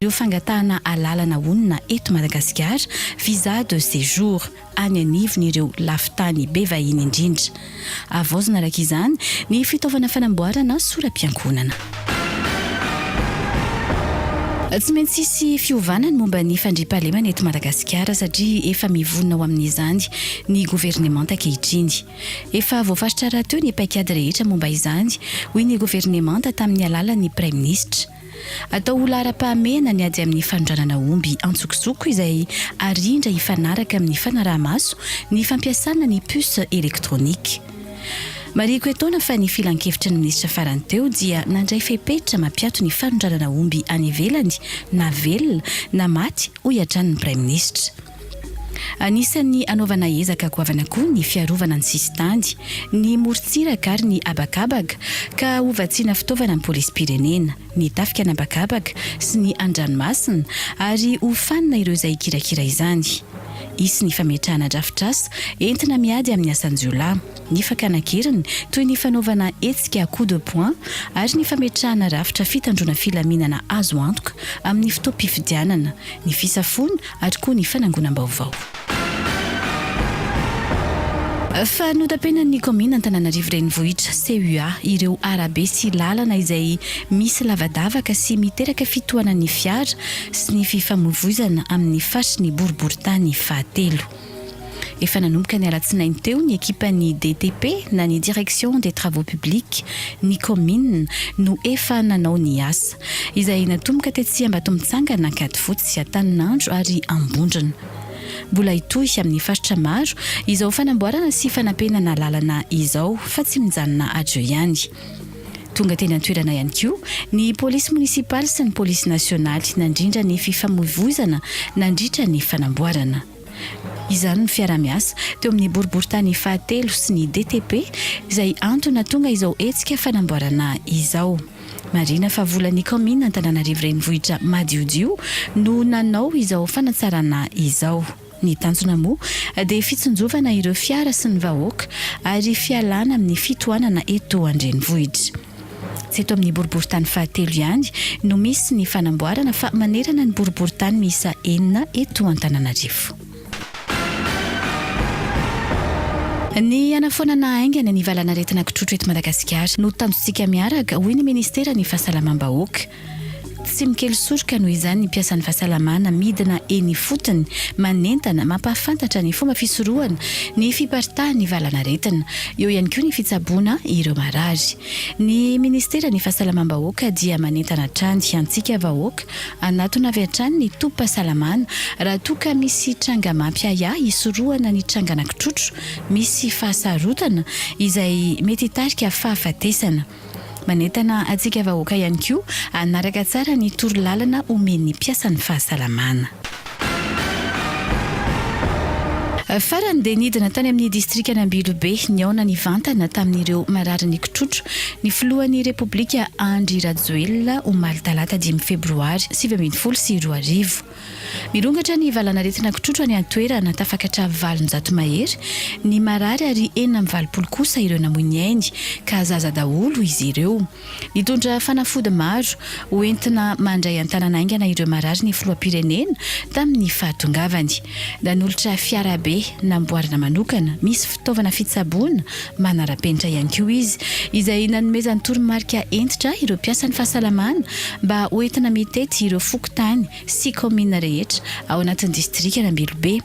Ireo fangatahana alalana honina eto Madagasikara, visa de séjour, any anivon'ireo lafin-tany be vahiny indrindra. Havaozina araka izany ny fitaovana fanamboarana sora-piankohonana. Tsy maintsy hisy fiovana ny momba ny fandriampahalemana eto Madagasikara satria efa mivonona ho amin'izany ny governemanta ankehitriny. Efa voafaritra rahateo ny paikady rehetra momba izany, hoy ny governemanta tamin'ny alalan'ny praiminisitra. Atao ho laharam-pahamehana ny ady amin'ny fanondranana omby an-tsokosoko izay arindra hifanaraka amin'ny fanaraha-maso ny fampiasana ny puce électronique. Marihiko etoana fa ny Filankevitry ny Minisitra farany teo dia nandray fepetra mampiato ny fanondranana omby any ivelany na velona na maty, hoy hatrany ny Praiminisitra. Anisan'ny anaovana ezaka goavana koa ny fiarovana ny sisintany, ny morontsiraka ary ny habakabaka ka hovatsiana fitaovana ny polisim-pirenena, ny tafika an'habakabaka sy ny an-dranomasina ary hofanina ireo izay hikirakira izany. Hisy ny fametrahana drafitrasa entina miady amin'ny asan-jiolahy, ny fakana an-keriny toy ny fanaovana hetsika coup de poing ary ny fametrahana rafitra fitandroana filaminana azo antoka amin'ny fotoam-pifidianana, ny fisafoana ary koa ny fanangonam-baovao. Fa notapenan'ny kaominina Antananarivo Renivohitra, CUA, ireo arabe sy lalana izay misy lavadavaka sy miteraka fitohanan'ny fiara sy ny fifamoivoizana amin'ny faritry ny boriborintany fahatelo. Efa nanomboka ny alatsinainy teo ny ekipan'ny DTP na ny Direction des Travaux Publics ny kaominina no efa nanao ny asa, izay natomboka tetsy Ambatomitsangana, Ankadifotsy, Antaninandro ary Ambondrona. Mbola hitohy amin'ny faritra maro izao fanamboarana sy fanampenana lalana izao fa tsy mijanona ajo ihany. Tonga teny an-toerana ihany koa ny polisy monisipaly sy ny polisy nasionaly nandrindra ny fifamoivoizana nandritra ny fanamboarana izany ny fiaraha-miasa teo amin'ny boriborintany fahatelo sy ny DTP izay antony nahatonga izao hetsika fanamboarana izao. Marihina fa volan'ny kaominina Antananarivo Renivohitra madiodio no nanao izao fanatsarana izao. Ny tanjona moa dia fitsinjovana ireo fiara sy ny vahoaka ary fialana amin'ny fitohanana eto an-drenivohitra. Tsy eto amin'ny boriborintany fahatelo ihany no misy ny fanamboarana fa manerana ny boriborintany miisa enina eto Antananarivo. Ny hanafoanana haingana ny valanaretina kitrotro eto Madagasikara no tanjontsika miaraka, hoy ny minisiteran'ny Fahasalamam-bahoaka. Tsy mikely soroka noho izany ny mpiasan'ny fahasalamana midina eny ifotony, manentana, mampahafantatra ny fomba fisorohana ny fiparitahan'ny valan'aretina. Eo ihany koa ny fitsaboana ireo marary. Ny Ministeran'ny Fahasalamam-bahoaka dia manentana hatrany antsika vahoaka hanatona avy hatrany ny tobim-pahasalamana raha toa ka misy tranga mampiahiahy hisorohana ny trangan'ankitrotro misy fahasarotana izay mety hitarika fahafatesana. Manentana antsika vahoaka ihany koa hanaraka tsara ny torolalana omen'ny mpiasan'ny fahasalamana. Farany dia nidina tany amin'ny distrikan'Ambilobe nihaona nivantana tamin'ireo marary nikotrotro ny filohan'ny Repoblika Andry Rajoelina omaly talata dimy febroary sivy ambin'ny folo sy roa arivo. Mirongatra ny valan'aretina kitrotro any an-toerana, tafakatra valonjato mahery ny marary ary enina amby valopolo kosa ireo namoy ny ainy ka zaza daholo izy ireo. Nitondra fanafody maro ho entina mandray an-tanana haingana ireo marary ny filoham-pirenena tamin'ny fahatongavany. Nanolotra fiarabe namboarina manokana misy Fitaovana fitsaboana manara-penitra ihany koa izy, izay nanomezany toromarika hentitra ireo mpiasan'ny fahasalamana mba ho entina mitety ireo fokontany sy kaominina rehetra ao anatin'ny distrikan'Ambilobe.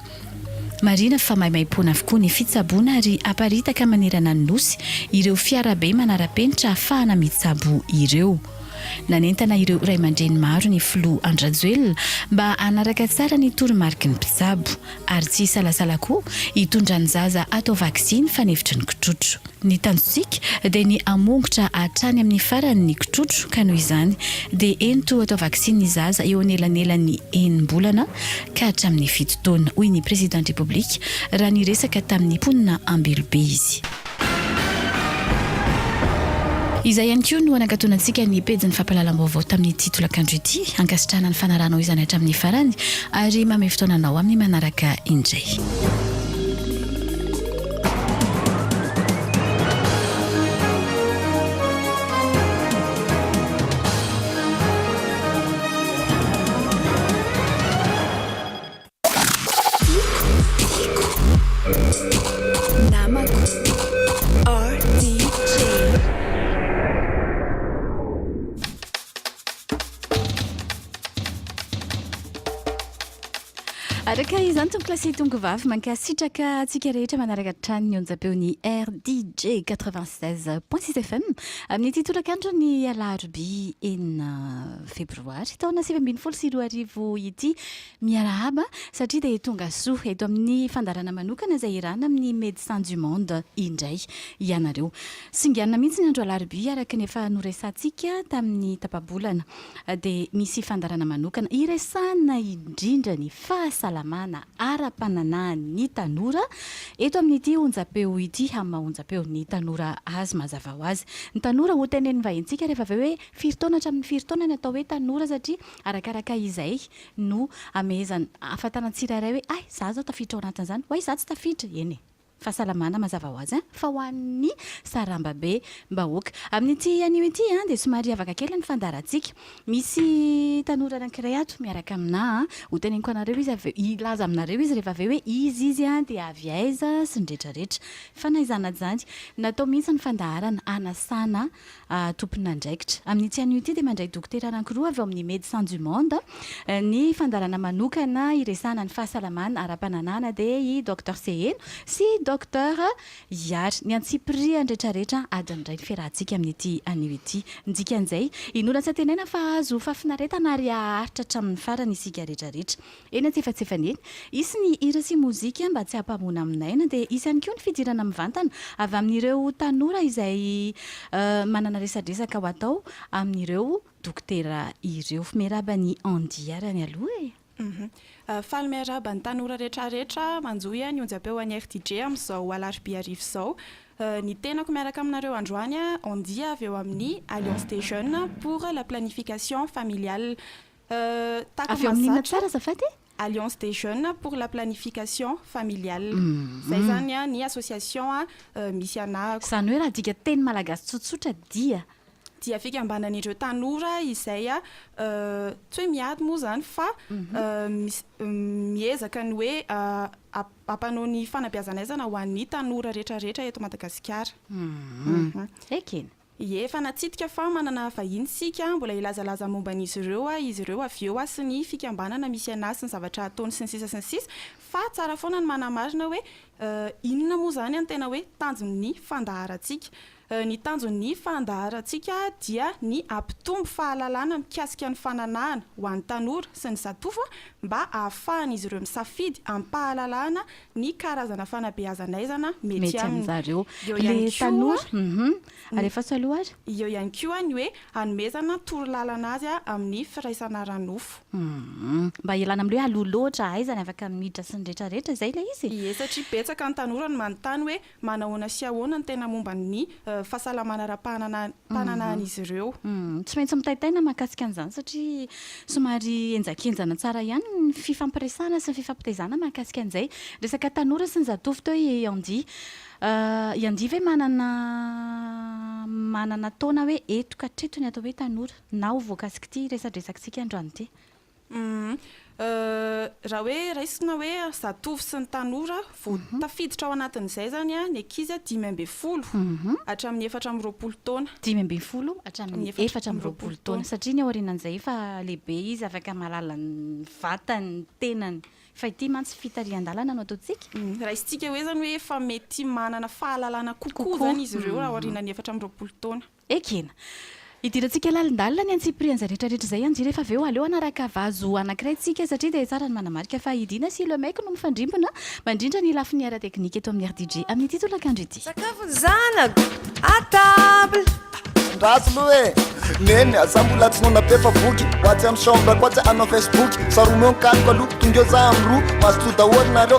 Marihina fa maimaimpoana avokoa ny fitsaboana ary aparitaka manerana ny Nosy ireo fiarabe manara-penitra ahafahana mitsabo ireo. Nanentana ireo ray aman-dreny maro ny filoha Andry Rajoelina mba hanaraka tsara ny toromariky ny mpitsabo. ary tsy hisalasala koa hitondra ny zaza hatao vaksiny fanefitry ny kitrotro. Ny tanjontsika dia ny hamongotra hatrany amin'ny farany ny kitrotro ka noho izany dia ento hatao vaksiny ny zaza eo anelanelan'ny enim-bolana ka hatramin'ny fito taona, hoy ny Prezidan-dRepoblika raha niresaka tamin'ny mponina Ambilobe izy. Izay ihany koa no anakatonantsika ny pejin'ny fampahalalam-baovao tamin'ity tolakandro ity. Ankasitrahana ny fanarahanao izany hatramin'ny farany ary mamehy fotoana anao amin'ny manaraka indray. Tovovavy mankasitraka antsika rehetra manaraka hatrany ny onjapeo ny RDJ 96.6 FM amin'ity tolakandro ny alarobia enina febroary taona sivy ambin'ny folo sy roa arivo ity Miarahaba, satria dia tonga soa eto amin'ny fandaharana manokana izay irana amin'ny Médecins du Monde indray ianareo. Singanina mihitsy ny andro alarobia araka ny efa noresahantsika tamin'ny tapa-bolana dia misy fandaharana manokana iresahana indrindra ny fahasalamana ara-pananahan'ny tanora eto amin'ity onjam-peo ity amin'ny maha onjam-peo ny tanora azy mazava ho azy. Ny tanora hotenenin'ny vahintsika rehefa avy eo hoe firy taona hatramin'ny firy taona ny atao hoe tanora satria arakaraka izay no amehezana ahafantarana ny tsirairay hoe hay za zao tafiditra ao anatin'izany, way za tsy tafiditra, eny e! Fahasalamana mazava ho azy an! fa ho an'ny sarambambe mbahoaka. Amin'ity anio ity an! dia somary hiavaka kely ny fandaharantsika. Misy tanora anankiray ato miaraka aminà an! ho teneniko anareo izy avy eo, hilaza aminareo izy rehefa avy eo hoe iza izy an! dia avy aiza sy ny retraretra. Fanaizana izany. Natao mihitsy ny fandaharana hanasana Ah, tompon'andraikitra. Amin'ity anio ity dia mandray dokotera anankiroa avy ao amin'ny Médecins du Monde ny fandaharana manokana hiresahana ny fahasalamana ara-pananahana dia i Docteur Seheno sy i Docteur Ihary. Ny antsipirihan'ny rehetrarehetra adin'ny iray ny fiarahantsika amin'ity anio ity. Ny dikan'izay, inoana tsy antenaina fa hahazo fahafinaretana ary haharitra hatramin'ny farany isika rehetrarehetra. Eny antsefatsefany eny, hisy ny hira sy mozika mba tsy hampamoana amin'aina, dia hisy ihany koa ny fidirana mivantana avy amin'ireo tanora izay manana resadresaka ho atao amin'ireo dokotera ireo. Miarahaba an'i Andy ary any aloha e! Faly miarahaba ny tanora retraretra manjo ny onjam-peo an'i RTJ amin'izao alarobia hariva izao. Ny tenako miaraka aminareo androany, Andy avy eo amin'ny Alliance des jeunes pour la planification familiale. Avy ao amin'ny inona tsara azafady e? Alliance des jeunes pour la planification familiale. Izay izany ny association misy anahako. Izany hoe raha adika teny malagasy tsotsotra dia. Dia fikambanan'ireo tanora izay tsy hoe miady moa izany fa miezaka ny hoe hampanao ny fanabeazana aizana ho an'ny tanora rehetra rehetra eto Madagasikara. Ekena. Ie, efa natsidika fa manana vahiny isika, mbola hilazalaza momba an'izy ireo aho, izy ireo avy eo aho sy ny fikambanana misy an'ahy sy ny zavatra hataony sy ny sisa sy ny sisa. Fa tsara foana ny manamarina hoe inona moa izany ny tena hoe tanjon'ny fandaharantsika. Ny tanjon'ny fandaharantsika dia ny hampitombo fahalalana mikasika ny fananahana ho an'ny tanora sy ny zatovo mba hahafahan'izy ireo misafidy amim-pahalalahana ny karazana fanabeazan'aizana mety aminy. Eo ihany koa, alefaso aloha ary. Eo ihany koa ny hoe hanomezana torolalana azy amin'ny firaisana ara-nofo. Mba hialana amin'ny hoe aloha loatra, aiza ny afaka miditra sy ny rehetrarehetra izay ilay izy? Ie, satria betsaka ny tanora no manontany hoe. Manahoana sy ahoana ny tena momba ny fahasalamana ara-pananahan'izy ireo? Tsy maintsy mitaitaina mahakasika an'izany satria somary henjakenjana tsara ihany ny fifampiresahana sy ny fifampitezana mahakasika an'izay resaka tanora sy ny zatovo teo i Andy. I Andy ve manana manana taona hoe eto ka hatreto ny atao hoe tanora na ho voakasik'ity resadresakintsika androany ity? Raha hoe raisina hoe zatovo sy ny tanora, vao tafiditra ao anatin'izay izany ny ankizy dimy ambin'ny folo hatramin'ny efatra amby roapolo taona. Dimy ambin'ny folo hatramin'ny efatra amby roapolo taona. Satria ny aorianan'izay efa lehibe izy, afaka mahalala ny vatany, ny tenany. Fa ity mantsy fitarihan-dalana no ataontsika. Raisintsika hoe izany hoe efa mety manana fahalalana kokoa izany izy ireo raha aorianan'ny efatra amby roapolo taona. Ekena. Hidirantsika lalindalina ny antsipirihan'izay rehetrarehetra izay anjy rehefa avy eo aleo hanaraka vazo anankiray tsika satria dia tsara ny manamarika fa i Dina sy Le Mec no mifandrimbona mandrindra ny lafiny ara-teknika eto amin'ny RDJ amin'ity tolakandro ity. Sakafo ny zanako à table. Gasy loha e! Neny a! Za mbola tsy nanapefa boky Ho atsy am chambre ko atsy hanao facebook Saromeo ny kaloko aloha Tongeo za am roa Mazotoa daholo nareo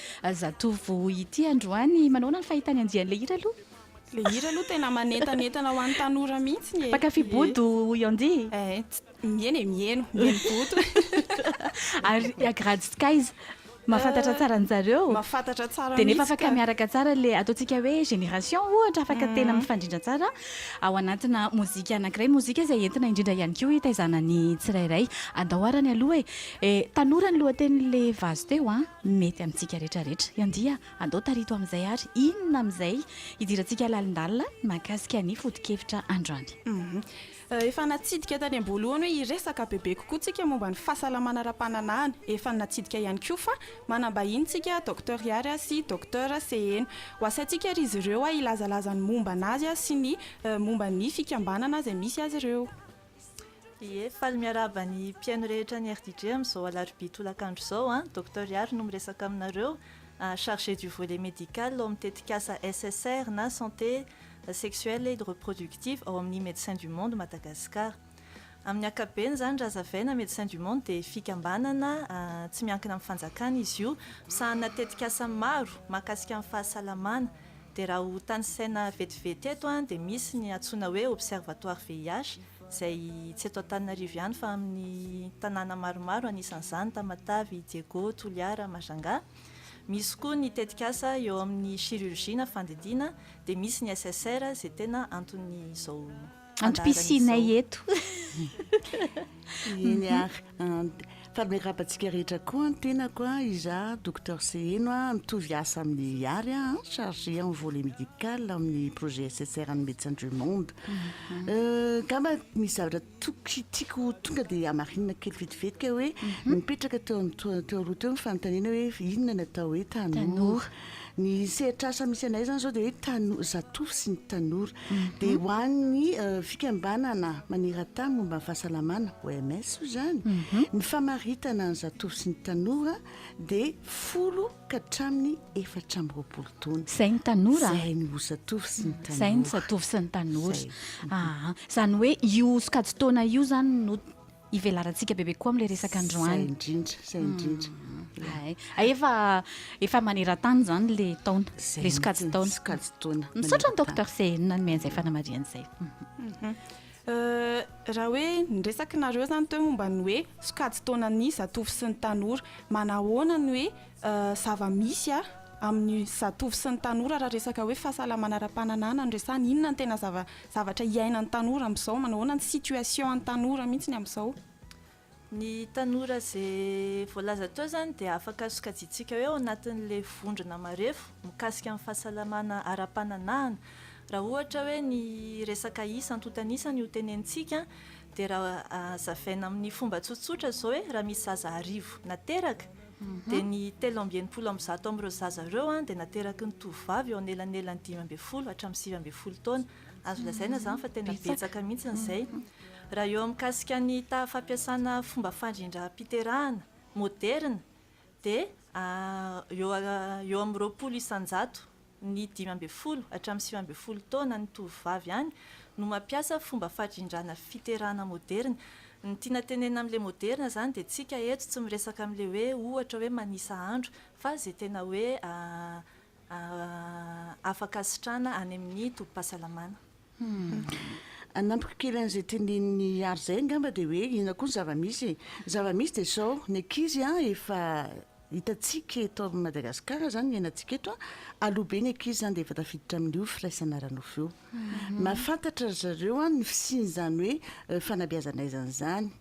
Zatovo ity androany, manaona ny fahitany andian'ilay hira aloha? Ilay hira aloha tena manentanentana ho an'ny tanora mihitsiny e! Mpankafy bodo i Andy? Ets, miheno e, miheno, miheno bodo. Ary i Agrad sy Kaiz, mahafantatra tsara an-dry zareo? Mahafantatra tsara mihitsy ka! Dia nefa afaka miaraka tsara ilay ataontsika hoe génération ohatra, afaka tena mifandrindra tsara ao anatina mozika anankiray, mozika izay entina indrindra ihany koa hitaizana ny tsirairay. Andao arany aloha e! Tanora ny lohatenin'ilay vazo teo an! Mety amintsika rehetra rehetra. Andia andao tarito amin'izay ary inona amin'izay hidirantsika lalindalina mahakasika ny foto-kevitra androany. Efa natsidika tany am-boalohany hoe hiresaka bebe kokoa tsika momba ny fahasalamana ara-pananahana. Efa natsidika ihany koa fa manam-bahiny tsika Docteur Yary sy Docteur Seheno. Ho asaintsika ary izy ireo hilazalaza ny momba an'azy sy ny momba ny fikambanana izay misy azy ireo. Ie, faly miarahaba ny mpihaino rehetra ny RDJ amin'izao alarobia tolakandro izao an! Docteur Ihary no miresaka aminareo, chargé du volet médical ao amin'ny tetikasa SSR na Santé Sexuelle et Reproductive ao amin'ny Médecins du Monde Madagascar. Amin'ny ankapobeny izany raha hazavaina, Médecins du Monde dia fikambanana tsy miankina amin'ny fanjakana izy io, misahana tetikasa maro mahakasika ny fahasalamana, Dia raha ho tanisaina vetivety eto dia misy ny antsoina hoe observatoire VIH izay tsy eto Antananarivo ihany fa amin'ny tanàna maromaro anisan'izany Tamatave, Diego, Toliara, Majanga. Misy koa ny tetikasa eo amin'ny chirurgie na fandidiana dia misy ny SSR izay tena anton'izao Antom-pisianay eto. Eny ary. Fa miarahaba antsika rehetra koa ny tenako, izaho Docteur Seheno, mitovy asa amin'i Ihary aho, chargé en volet médical amin'ny projet SSR an'ny Médecins du Monde. Angamba misy zavatra tokony tiako ho tonga dia hamarinina kely vetivetika hoe nipetraka teo amin'ny teo aloha teo ny fanontaniana hoe inona ny atao hoe tanora. Ny sehatr'asa misy anay izany izao dia hoe tano- zatovo sy ny tanora. Dia ho an'ny eh, fikambanana maneran-tany momba ny fahasalamana, OMS hoy izany, ny famaritana ny zatovo sy ny tanora dia folo ka hatramin'ny efatra amby roapolo taona. Izay ny tanora? Izay ny ho zatovo sy ny tanora. Izay ny zatovo sy ny tanora. Izay. Aa, izany hoe io sokajin-taona io izany no ivelarantsika bebe koa amin'ilay resaka androany. Izay indrindra, izay indrindra. Hay, hay efa efa maneran-tany izany ilay taona, ilay sokajin-taona. Sokajin-taona. Misaotra an'i Docteur CN nanome an'izay fanamarihana izay. Raha hoe ny resakinareo izany teo momba ny hoe sokajin-taonan'ny zatovo sy ny tanora, manahoana ny hoe zava-misy amin'ny zatovo sy ny tanora raha resaka hoe fahasalamana ara-pananahana no resahana, inona no tena zava- Zavatra iainan'ny tanora amin'izao, manao ahoana ny situation an'ny tanora mihitsy ny amin'izao? Ny tanora izay voalaza teo izany dia afaka sokajiantsika hoe ao anatin'ilay vondrona marefo mikasika ny fahasalamana ara-pananahana. Raha ohatra hoe ny resaka isa, antontan'isa ny hotenenintsika dia raha hazavaina amin'ny fomba tsotsotra izao hoe raha misy zaza arivo nateraka, dia ny telo amby enimpolo amby zato amin'ireo zaza ireo dia nateraky ny tovovavy eo anelanelan'ny dimy ambin'ny folo hatramin'ny sivy ambin'ny folo taona. Azo lazaina izany fa tena betsaka mihitsy izay. Raha eo amin'ny mikasika ny taha fampiasana fomba fandrindram-piterahana moderina dia eo amin'ny roapolo isan-jato. ny dimy ambin'ny folo hatramin'ny sivy ambin'ny folo taona ny tovovavy ihany no mampiasa fomba fadrindràna fiterahana moderina. Ny tiana tenenina amin'ilay moderina izany dia tsika eto tsy miresaka amin'ilay hoe ohatra hoe manisa andro fa izay tena hoe afaka asitrana any amin'ny tobim-pahasalamana. Hanampiko kely an'izay tenenin'i Ary izay angamba dia hoe inona koa ny zava-misy e? Ny zava-misy dia izao, ny ankizy efa hitantsika eto amin'i Madagasikara izany no iainantsika eto, aloha be ny ankizy izany dia efa tafiditra amin'io firaisana ara-nofo io. Mahafantatra ry zareo ny fisian'izany hoe fanabeazana aiza an'izany,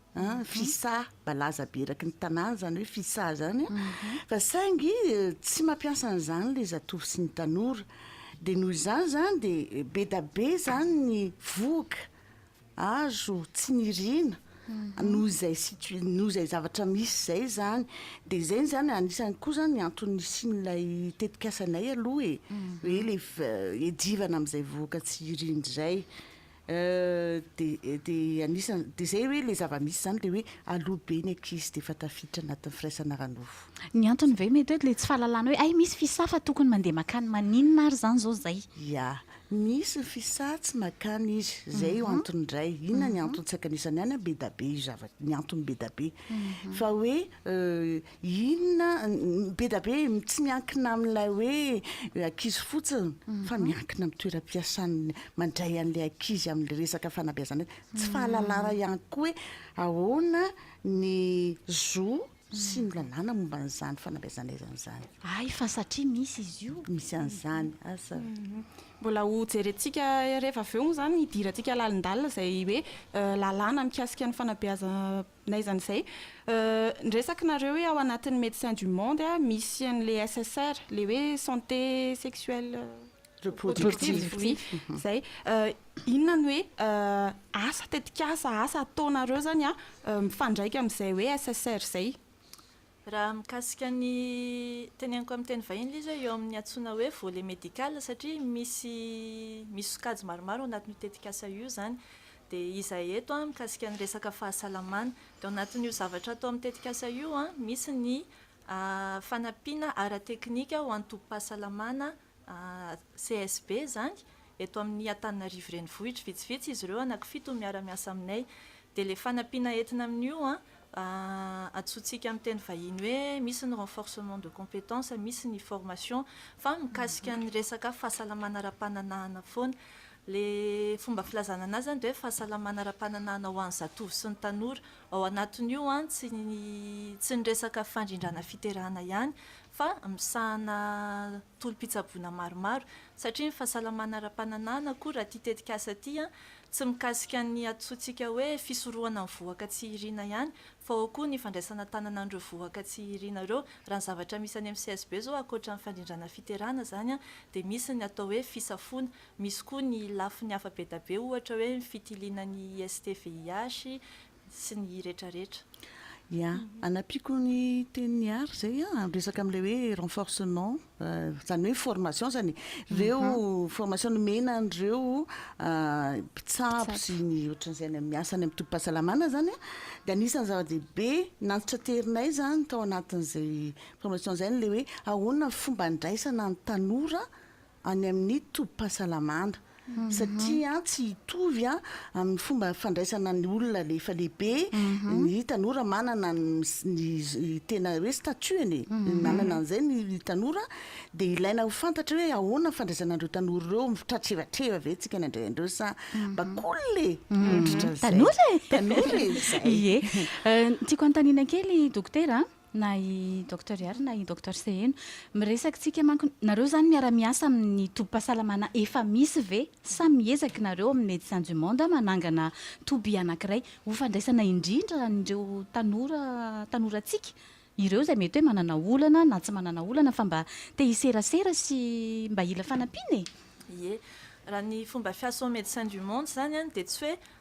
fisà. balaza be eraky ny tanàna izany hoe fisaha izany a, fa saingy tsy mampiasa an'izany ilay zatovo sy ny tanora, dia noho izany izany dia be da be izany ny vohoka azo tsy niriana noho izay situa- noho izay zavatra misy izay izany, dia izay izany anisany koa izany ny antony nisian'ilay tetikasanay aloha e, hoe ilay f- hiadivana amin'izay vohoka tsy irina izay, Dia dia anisan dia izay hoe ilay zava-misy izany dia hoe aloha be ny ankizy dia efa tafiditra anatin'ny firaisana ara-nofo. Ny antony ve mety hoe ilay tsy fahalalana hoe hay misy fisaha fa tokony mandeha makany maninona ary izany izao izay? Ia. Misy ny fisaha tsy makany izy. Izay io antony iray. Inona ny antony tsy ankanesany any an? Bedabe io zavatra, ny antony bedabe. Fa hoe Inona be da be tsy miankina amin'ilay hoe ankizy fotsiny fa miankina amin'ny toeram-piasana mandray an'ilay ankizy amin'ny resaka fanabeazana azy. Tsy fahalalana ihany koa hoe ahoana ny zo sy ny lalàna momba an'izany fanabeazana izany izany. Hay fa satria misy izy io. Misy an'izany, asa. Mbola ho jerentsika rehefa avy eo moa izany hidirantsika lalindalina izay hoe lalàna mikasika ny fanabeazana. Na izany izay, ny resakinareo hoe ao anatin'ny Médecins du Monde misy an'ilay SSR, ilay hoe santé sexuelle reproductive, oui, izay. Inona no hoe asa, tetikasa, asa ataonareo izany mifandraika amin'izay hoe SSR izay? Raha mikasika ny teneniko amin'ny teny vahiny ilay izy hoe eo amin'ny antsoina hoe volet médical satria misy misy sokajy maromaro ao anatin'io tetikasa io izany. Dia izahay eto mikasika ny resaka fahasalamana. Dia ao anatin'io zavatra atao amin'ny tetikasa io misy ny fanampiana ara-teknika ho an'ny tobim-pahasalamana CSB, izany, eto amin'ny Antananarivo Renivohitra. Vitsivitsy izy ireo anankifito no miara-miasa aminay. Dia ilay fanampiana entina amin'io, antsointsika amin'ny teny vahiny hoe misy ny renforcement de compétence, misy ny formation, fa mikasika ny resaka fahasalamana ara-pananahana foana. Ilay fomba filazana an'azy izany dia hoe fahasalamana ara-pananahana ho an'ny zatovo sy ny tanora. Ao anatin'io tsy ny resaka fandrindrana fiterahana ihany fa misahana tolom-pitsaboana maromaro satria ny fahasalamana ara-pananahana koa raha ity tetikasa ity tsy mikasika ny antsointsika hoe fisorohana ny vohoka tsy irina ihany fa ao koa ny fandraisana tanana an'ireo vohoka tsy irina ireo. Raha ny zavatra misy any amin'ny CSB izao ankoatra ny fandrindrana fiterana izany dia misy ny atao hoe fisafoana, misy koa ny lafiny hafa be da be ohatra hoe ny fitiliana ny IST-VIH, sy ny retraretra. Ya, anampiako ny tenin'i Ary izay an, amin'ny resaka amin'ilay hoe renforcement, izany hoe formation izany e. Ireo formation nomena an'ireo mpitsabo sy ny ohatran'izay any amin'ny miasa any amin'ny tobim-pahasalamana izany an, dia anisan'ny zava-dehibe nantitranterinay izany tao anatin'izay formation izay ny ilay hoe ahoana ny fomba handraisana ny tanora any amin'ny tobim-pahasalamana satria tsy hitovy amin'ny fomba fandraisana ny olona efa lehibe ny tanora manana ny tena hoe statut-ny e, manana an'izay ny tanora dia ilaina ho fantatra hoe ahoana ny fandraisana an'ireo tanora ireo, mitratrevatreva ve isika ny handray an'ireo sa mba k'olona e, ohatrotr'izay. Tanora e! Tanora e! Izay. Ie. Ny tiako hanontaniana kely Dokotera a! na i Docteur Ihary na i Docteur Seheno. Miresaka tsika manko, nareo zany miara-miasa amin'ny tobim-pahasalamana efa misy ve sa miezaky nareo amin'ny Médecins du Monde manangana toby anakiray ho fandraisana indrindra an'ireo tanora tanorantsika ireo zay mety hoe manana olana na tsy manana olana fa mba te hiserasera sy mba hila fanampiana e? Ie. Raha ny fomba fiasan'ny Médecins du Monde zany dia tsy hoe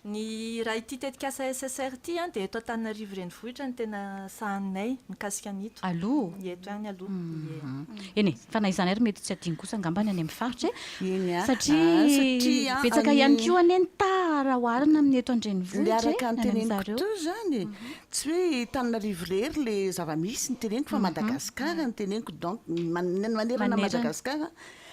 Ny raha ity tetikasa SSR ity dia eto Antananarivo renivohitra no tena sahaninay mikasika an'ito. Aloha? Eto ihany aloha, ie. Eny e, fa na izany ary mety tsy adino kosa angambany any amin'ny faritra e. Eny a, satria a. Betsaka ihany koa anie ny taha raha oharina amin'ny eto an-drenivohitra e. Miaraka ny teneniko teo izany e, tsy hoe Antananarivo irery ilay zava-misy no teneniko fa Madagasikara no teneniko, donc manerana Madagasikara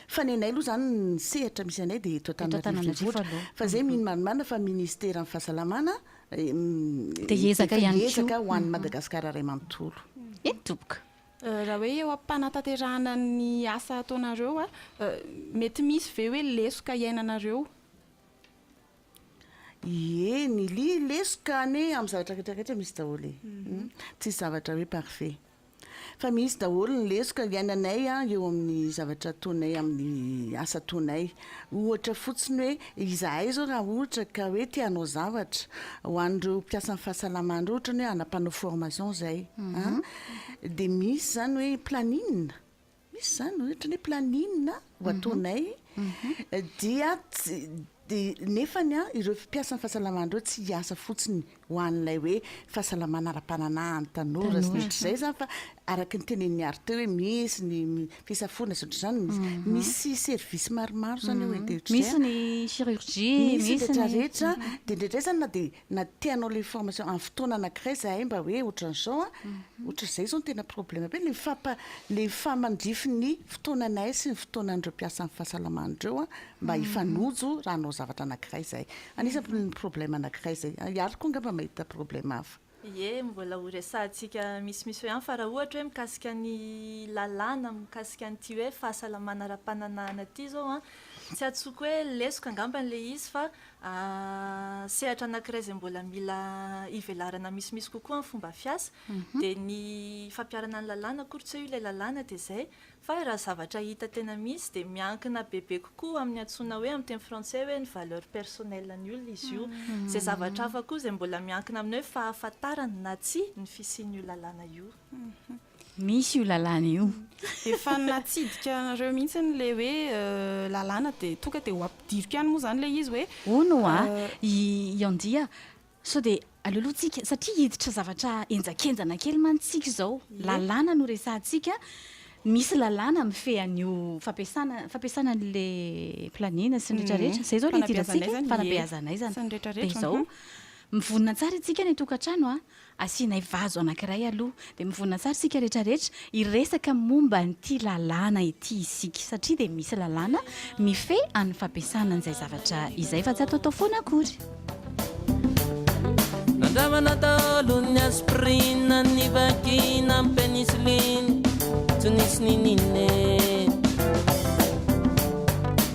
Fa ny anay aloha izany ny sehatra misy anay dia eto Antananarivo Renivohitra. Fa izay mino marimarina fa ministeran'ny fahasalamana dia hiezaka ihany koa. Dia hiezaka ho an'i Madagasikara iray manontolo. Eny tompoko. Raha hoe eo am-panatanterahana ny asa ataonareo, mety misy ve hoe lesoka iainanareo? Ie, ny lesoka anie amin'ny zavatra rehetra rehetra misy daholo e. Tsisy zavatra hoe parfait. Fa misy daholo ny lesoka iainanay eo amin'ny zavatra ataonay, amin'ny asa ataonay. Ohatra fotsiny hoe izahay izao raha ohatra ka hoe te hanao zavatra ho an'ireo mpiasan'ny fahasalamana, ohatra ny hoe hanampanao formation izay an, dia misy izany hoe planning. Misy izany hoe ohatran'ny hoe planning ho ataonay dia tsy dia nefany an ireo mpiasan'ny fahasalamana ireo tsy hiasa fotsiny ho an'ilay hoe fahasalamana ara-pananahana ny tanora sy ny ohatr'izay izany fa araka ny tenenin'i Ary teo hoe misy ny fisafoana sy ohatr'izany misy service maromaro izany eo dia ohatr'izay an. Misy ny chirurgie, misy ny. Misy ny rehetra rehetra dia indraindray izany na dia. Na tianao ilay formation amin'ny fotoana anankiray izahay mba hoe ohatran'izao an, ohatran'izay izao no tena problème be, ilay fampa, ilay fahamandrify ny fotoananay sy ny fotoanan'ireo mpiasan'ny fahasalamana ireo an, mba hifanojo raha hanao zavatra anankiray izahay. Anisan'ny problème anankiray izay. I Ary koa angamba mahita problème hafa. Ie, mbola ho resahantsika misimisy hoe an, fa raha ohatra hoe mikasika ny lalàna mikasika an'ity hoe fahasalamana ara-pananahana ity izao an, tsy antsoiko hoe lesoka angambany ilay izy fa Sehatra anankiray izay mbola mila hivelarana misimisy kokoa amin'ny fomba fiasa dia ny fampiharana ny lalàna, akory tsy hoe io ilay lalàna dia izay fa raha zavatra hita tena misy dia miankina bebe kokoa amin'ny antsoina hoe amin'ny teny frantsay hoe ny valeur personnelle ny olona izy io. Izay zavatra hafa koa izay mbola miankina amin'ny hoe fahafantarany na tsia ny fisian'io lalàna io. Misy io lalàna io. Efa natsidika anareo mihitsy ilay hoe lalàna dia tonga dia ho ampidiriko ihany moa izany ilay izy hoe. Hono hoa, i Andia, sao dia alolohantsika, satria hiditra zavatra henjakenjana kely mantsy isika izao. Lalàna no resahantsika, misy lalàna mifehy an'io fampiasana, fampiasana an'ilay planina sy ny rehetrarehetra. Izay izao no idirantsika, fanabeazana aizana. Dia izao, mivonona tsara isika any an-tokantrano an, Asianay vazo anankiray aloha dia mivonona tsara isika rehetra rehetra hiresaka momba an'ity lalàna ity isika satria dia misy lalàna mifehy an'ny fampiasana an'izay zavatra izay fa tsy atao atao foana akory. Nandramana daholo'ny aspirine ny vagina amin'ny penicilline tsy nisy nininee.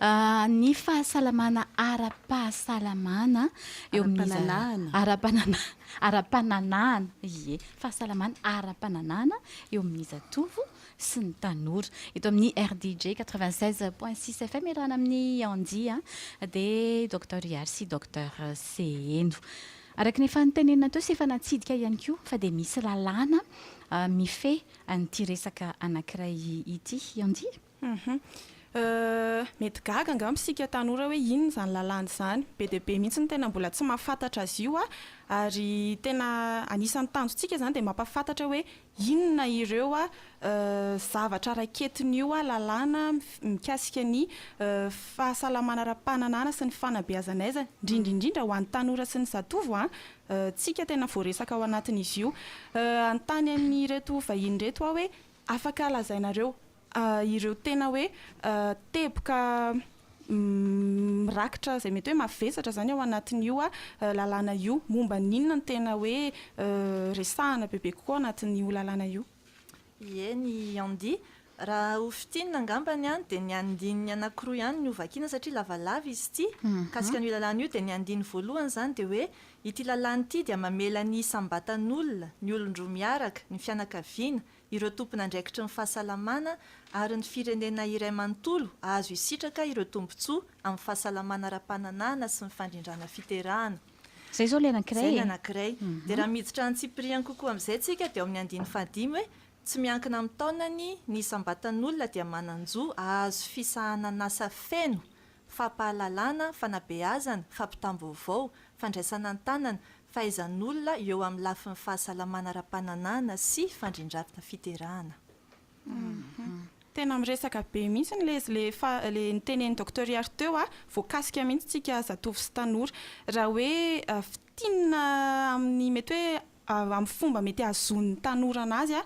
A, Ny fahasalamana ara-pahasalamana eo amin'ny za- Ara-pananahana. ara-panana- ara-pananahana, ie, fahasalamana ara-pananahana eo amin'ny zatovo sy ny tanora. Eto amin'ny RDJ 96 point 6 FM iarahana amin'i Andy a, dia Docteur Ihary sy Docteur Seheno. Araka ny efa notenenina teo sy efa natsidika ihany koa fa dia misy lalàna a, mifehy an'ity resaka anankiray ity, Andy. Hum hum. Mety gaga angamba isika tanora hoe inona izany lalàna izany. Be dia be mihitsy ny tena mbola tsy mahafantatra azy io ary tena anisan'ny tanjontsika izany dia mampahafantatra hoe inona ireo zavatra raiketin'io lalàna mikasika ny fahasalamana ara-pananahana sy ny fanabeazana aiza, indrindra indrindra ho an'ny tanora sy ny zatovo ho antsika tena voaresaka ao anatin'izy io. Hanontany an'ireto vahiny ireto aho hoe afaka lazainareo ireo tena hoe teboka mirakitra izay mety hoe mavesatra izany ao anatin'io lalàna io. Momba ny inona no tena hoe resahana bebe kokoa ao anatin'io lalàna io? Ie, ny handi. Raha ho fintinina angamba dia ny andininy anankiroa ihany no hovakiana satria lavalava izy ity. Mikasika an'io lalàna io dia ny andininy voalohany izany dia hoe ity lalàna ity dia mamela ny isam-batan'olona, ny olon-droa miaraka, ny fianakaviana, ireo tompon'andraikitry ny fahasalamana ary ny firenena iray manontolo hahazo hisitraka ireo tombontsoa amin'ny fahasalamana ara-pananahana sy ny fandrindrana fiterahana. Izay izao ilay anankiray e! Izay ny anankiray. Dia raha miditra antsipiriany kokoa amin'izay isika dia ao amin'ny andininy fahadimy hoe, Tsy miankina amin'ny taonany, ny isam-batan'olona dia manan-jo hahazo fisahanan'asa feno fampahalalana, fanabeazana, fampitam-baovao, fandraisana an-tanana, fahaizan'olona eo amin'ny lafiny fahasalamana ara-pananahana sy fandrindram fiterahana. Tena miresaka be mihitsy ny lezy le fa le nitenen'i Docteur Iary teo a, voakasika mihitsy tsika zatovo sy tanora raha hoe fintinina amin'ny mety hoe amin'ny fomba mety hahazoan'ny tanora anazy a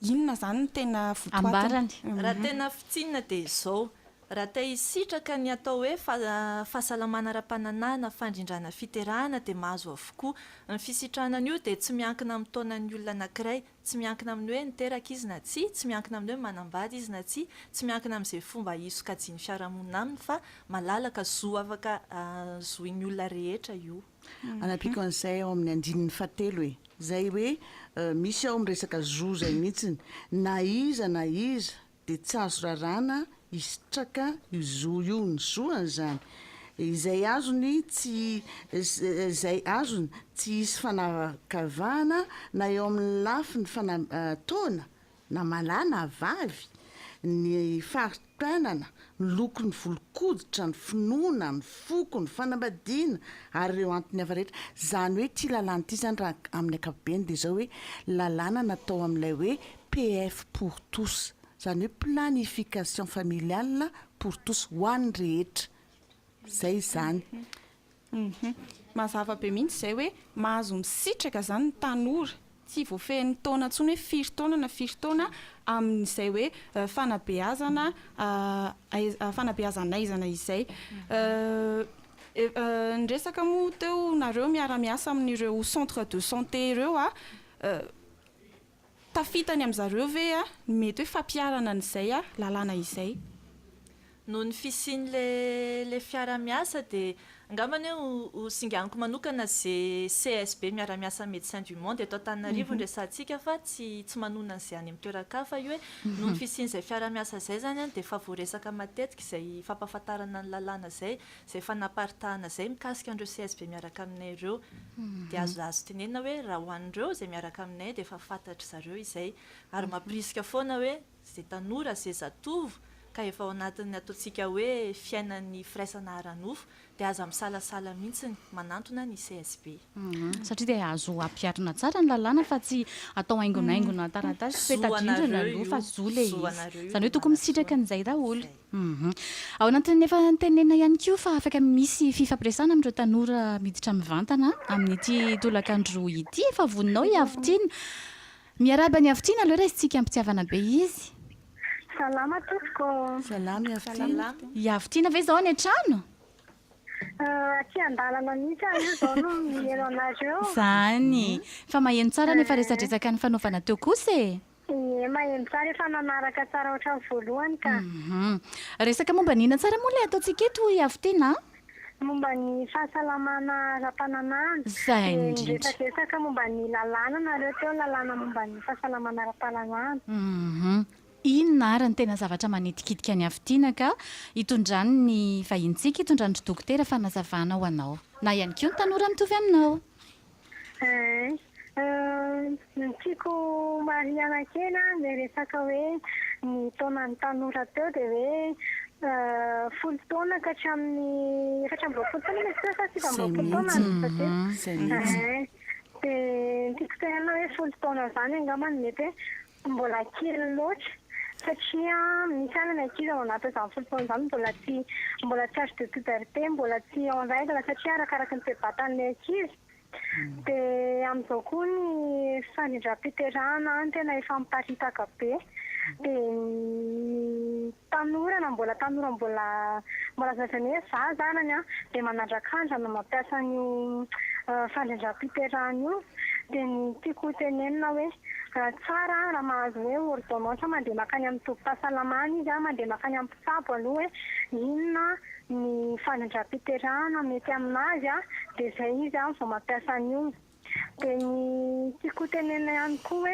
Inona izany no tena votoatiny? Ambarany. Raha tena fintinina dia izao, raha te hisitraka ny atao hoe fahasalamana ara-pananahana, fandrindrana fiterahana dia mahazo avokoa. Ny fisitrahana an'io dia tsy miankina amin'ny taonan'ny olona anankiray. Tsy miankina amin'ny hoe niteraka izy na tsia, tsy miankina amin'ny hoe manambady izy na tsia, tsy miankina amin'izay fomba hisokajian'ny fiarahamonina aminy fa malalaka, zo afaka zohin'ny olona rehetra io. Anampiako an'izay ao amin'ny andininy fahatelo e. Izay hoe misy ao miresaka zo izay mihitsiny. Na iza na iza dia tsy azo raràna hisitraka io zo io. Ny zo an'izany, izay azony tsy, izay azony tsy hisy fanavakavahana na eo amin'ny lafiny fanam-, taona na malahy na vavy, ny fari-piainana, ny loko, ny volon-koditra, ny finoana, ny foko, ny fanambadiana ary ireo antony hafa rehetra. Izany hoe ity lalàna ity izany raha amin'ny ankapobeny dia izao hoe lalàna natao amin'ilay hoe PF pour tous, izany hoe planification familiale pour tous, ho an'ny rehetra. Izay izany. Hum. Mazava be mihitsy izay hoe mahazo misitraka izany ny tanora. Tsy voafehin'ny taona intsony hoe firy taona na firy taona amin'izay hoe fanabeazana aiza fanabeazan'aizana izay. Niresaka moa teo nareo miara-miasa amin'ireo centre de santé ireo aho. Tafita any amin zareo ve ny mety hoe fampiharana an izay lalàna izay? Noho ny fisian ilay fiara miasa dia angambany hoe ho singaniko manokana ze CSB miara-miasa Médecins du Monde eto Antananarivo ny resahantsika fa tsy tsy manonona an'izay any amin'ny toeran-kafa io hoe noho ny fisian'izay fiara-miasa izay izany dia efa voaresaka matetika izay fampahafantarana ny lalàna izay izay fanaparitahana izay mikasika an'ireo CSB miaraka aminay ireo. Dia azo azo tenenina hoe raha ho an'ireo izay miaraka aminay dia efa fantatry zareo izay. Ary mampirisika foana hoe izay tanora, izay zatovo ka efa ao anatin'ny ataontsika hoe fiainan'ny firaisana ara-nofo dia aza misalasala mihitsy manantona ny CSB. Satria dia azo ampiharina tsara ny lalàna fa tsy atao haingonaingona taratasy sy peta-drindrina aloha fa zo ilay izy. Izany hoe tokony misitraka an'izay daholo. Humm. Ao anatin'ny efa notenenina ihany koa fa afaka misy fifampiresahana amin'ireo tanora miditra mivantana amin'ity tolakandro ity. Efa voninao i Havitiana. Miarahaba an'i Havitiana aloha raisintsika am-pitiavana be izy. Salama tompoko. Salama i Havitiana. I Havitiana ve izao any an-trano? Aty an-dalana mihitsy aho io izao no mihaino anareo. Izany. Fa maheno tsara nefa resadresaka nifanaovana teo kosa e. Ie maheno tsara efa nanaraka tsara otrany voalohany ka. Hum. Resaka momba ny inona tsara moa ilay ataontsika eto hoy Afotena a? Momba ny fahasalamana ara-pananahana. Zay Dia indrindra. niresadresaka momba ny lalàna nareo teo, lalàna momba ny fahasalamana ara-pananahana. Hum. Inona ary ny tena zavatra manitikitika an'i Afotena ka itondrany ny vahinintsika, itondrany ry Dokotera fanazavana ho anao. Na ihany koa ny tanora mitovy aminao. Ny tiako marihana kely an, ilay resaka hoe ny taonan'ny tanora teo dia hoe folo taona ka hatramin'ny efatra amby roapolo taona izy teo sa sivy amby roapolo taona an, efa diso. Dia ny tiako tenenina hoe folo taona izany angamba no mety hoe Mbola kely loatra satria misy any ny ankizy ao anatin'izany folo taona izany mbola tsy mbola tsy age de puberté, mbola tsy en règle satria arakaraky ny toe-batan'ny ankizy. Dia amin'izao koa ny fandrindram-piterahana any tena efa miparitaka be dia ny Tanora na mbola tanora mbola mbola zazany hoe za zanany an, dia manandrakandra no mampiasa an'io fandrindram-piterahana io, dia ny tiako ho tenenina hoe tsara raha mahazo hoe ordonnance mandeha mankany amin'ny tobim-pahasalamana izy an, mandeha mankany amin'ny mpitsabo aloha hoe inona ny fandrindram-piterahana mety amin'azy an, dia izay izy an vao mampiasa an'io. Dia ny tiako ho tenenina ihany koa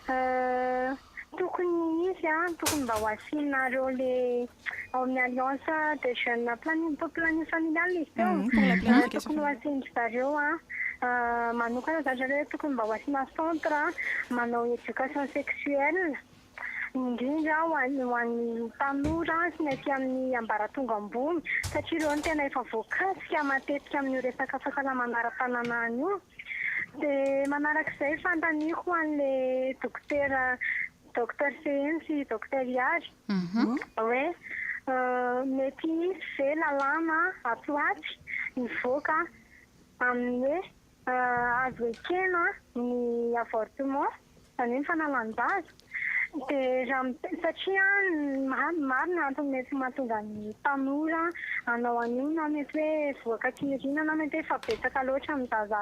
hoe tokony izy an, tokony mba ho asianareo le ao amin'ny alliance des jeunes planning pour planning familial izy teo, tokony ho asian-dry zareo manokana zany ry zareo hoe tokony mba ho asiana centre manao éducation sexuelle. indrindra ho an'ny ho an'ny tanora sy ny aty amin'ny ambaratonga ambony satria ireo no tena efa voakasika matetika amin'io resaka fahasalamana ara-pananahana io dia manaraka izay fanontaniako ho an'ilay dokotera Docteur Seheno sy Docteur Ihary hoe mety hisy ve lalàna ato ho atsy hivoaka amin'ny hoe Azo ekena ny avortement, izany hoe ny fanalan-jaza, dia satria maro ny antony mety mahatonga ny tanora hanao an'io na mety hoe voaka tsy nirinana na mety hoe efa betsaka loatra ny zaza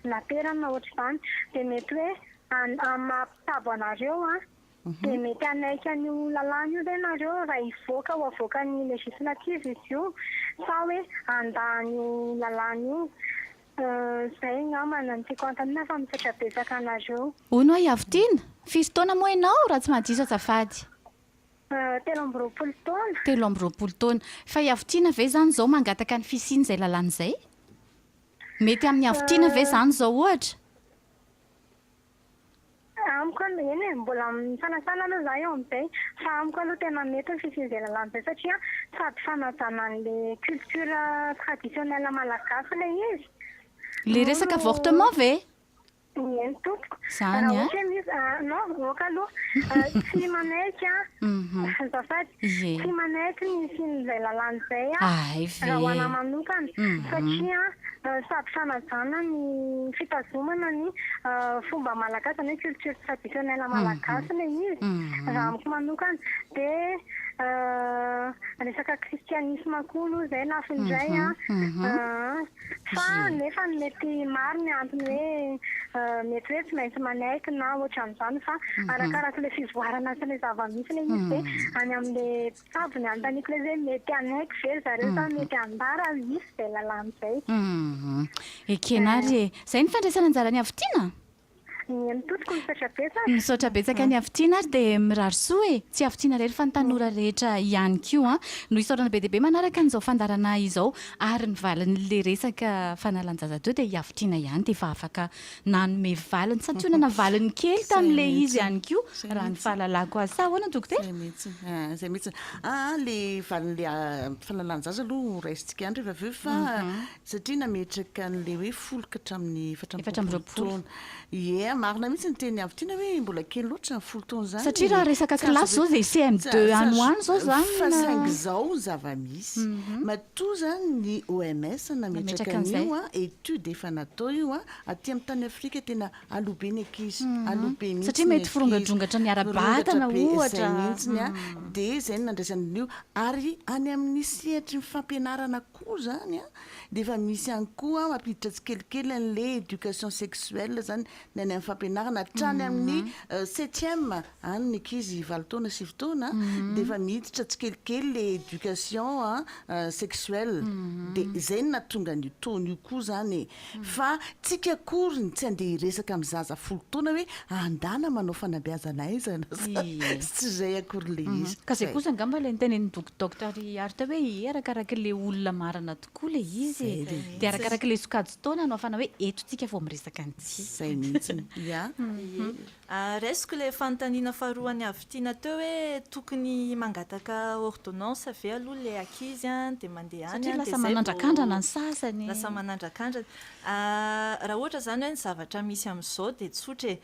naterany na ohatr'izany dia mety hoe amin'ny maha mpitsabo anareo dia mety hanaiky an'io lalàna io ve ianareo raha hivoaka ho avoakan'ny législative izy io sa hoe handà an'io lalàna io? Zay angamba no tiako hanontaniana fa misaotra betsaka anareo. Hono ho'a i Avotino, firy taona moa ianao raha tsy mahadiso azafady? Telo amby roapolo taona. Telo amby roapolo taona. Fa i Avotino ve izany izao mangataka ny fisian'izay lalàna izay? Mety amin'i Avotino ve izany izao ohatra? Amiko aloha, eny e, mbola amin'ny fanasana aloha za eo amin'izay fa amiko aloha tena mety ny fisian'izay lalàna izay satria sady fanajana an'ilay culture traditionnelle malagasy ilay izy Ilay resaka avortement ve? Eny tompoko. Izany an! Raha ohatra hoe misy, non, aoka aloha tsy manaiky an! Azafady. Ie. Tsy manaiky ny hisian'izay lalàna izay aho Ahay ve. raha ho anahy manokana, satria sady fanajana ny fitazomana ny fomba malagasy, izany hoe culture traditionnelle malagasy ilay izy, raha amiko manokana. Dia resaka kristianisma koa aloha izay lafiny iray an. Fa nefa mety maro ny antony hoe mety hoe tsy maintsy manaiky na ohatran'izany fa arakaraka ilay fivoarana sy ilay zava-misy ilay izy dia any amin'ilay mpitsabo ny anontaniako ilay izy hoe mety hanaiky ve ry zareo sa mety hambara ary hisy izay lalàna izay. Ekena ary e! Izay ny fandraisana anjara ny havitiana? Mihaino tompoko, misaotra betsaka. Misaotra betsaka ny afotiana ary dia mirary soa e! Tsy afotiana irery fa ny tanora rehetra ihany koa an! No isaorana be dia be manaraka an'izao fandaharanà izao ary ny valin'ilay resaka fanalan-jaza teo dia i afotiana ihany dia efa afaka nanome valiny, santionana valiny kely tamin'ilay izy ihany koa raha ny fahalalako azy. Sa ahoana Dokotera? Izay mihitsy, izay mihitsy. Aa ilay valin'ilay fanalan-jaza aloha ho raisintsika ihany rehefa avy eo fa Satria nametraka an'ilay hoe folo ka hatramin'ny efatra amby Efatra amby roapolo roapolo. taona. Ie, marina mihitsy ny tenin'i Avitiana hoe mbola kely loatra ny folo taona izany. Satria raha resaka Tsy azo kilasy izao izay ampiasaina. CM2 Tsy azo- any ho any izao tsy azo- izany Fa na- saingy izao ny zava-misy. Mhm. Matoa izany ny OMS nametraka Nametraka an'izay. an'io an, étude efa natao io an, aty amin'ny tany Afrika tena alobe ny ankizy. Mhm. Alobe mihitsy Satria ny mety ankizy. forongandrongatra ny ara-batana, Forongatra be, ohatra. Izay mihitsy ny an. Mhm. Dia izay no nandraisana an'io. Ary any amin'ny sehatry ny fampianarana koa izany an, dia efa misy ihany koa mampiditra tsikelikely an'ilay éducation sexuelle izany ny any amin'ny fampianarana hatrany amin'ny septième any ny ankizy valo taona sivy taona dia efa miditra tsikelikely ilay éducation sexuelle dia izay no nahatonga an'io taux-n'io koa izany e. Fa tsika akoriny tsy andeha hiresaka amin'ny zaza folo taona hoe andana manao fanabeazana aiza na za sy tsy izay akory ilay izy. Ka zay kosa angamba ilay nitenenin'i Doc Docteur Iary teo hoe ee arakaraka ilay olona marina tokoa ilay izy e! Dia arakaraka ilay sokajin-taona no ahafahana hoe eto tsika vao miresaka an'ity. Zay mihitsy, yeah. Raisiko ilay fanontaniana faharoan'i Avitina teo hoe tokony mangataka ordonnance ve aloha ilay ankizy dia mandeha any dia izay vao lasa manandrakandrana. Raha ohatra izany hoe ny zavatra misy amin'izao dia tsotra e.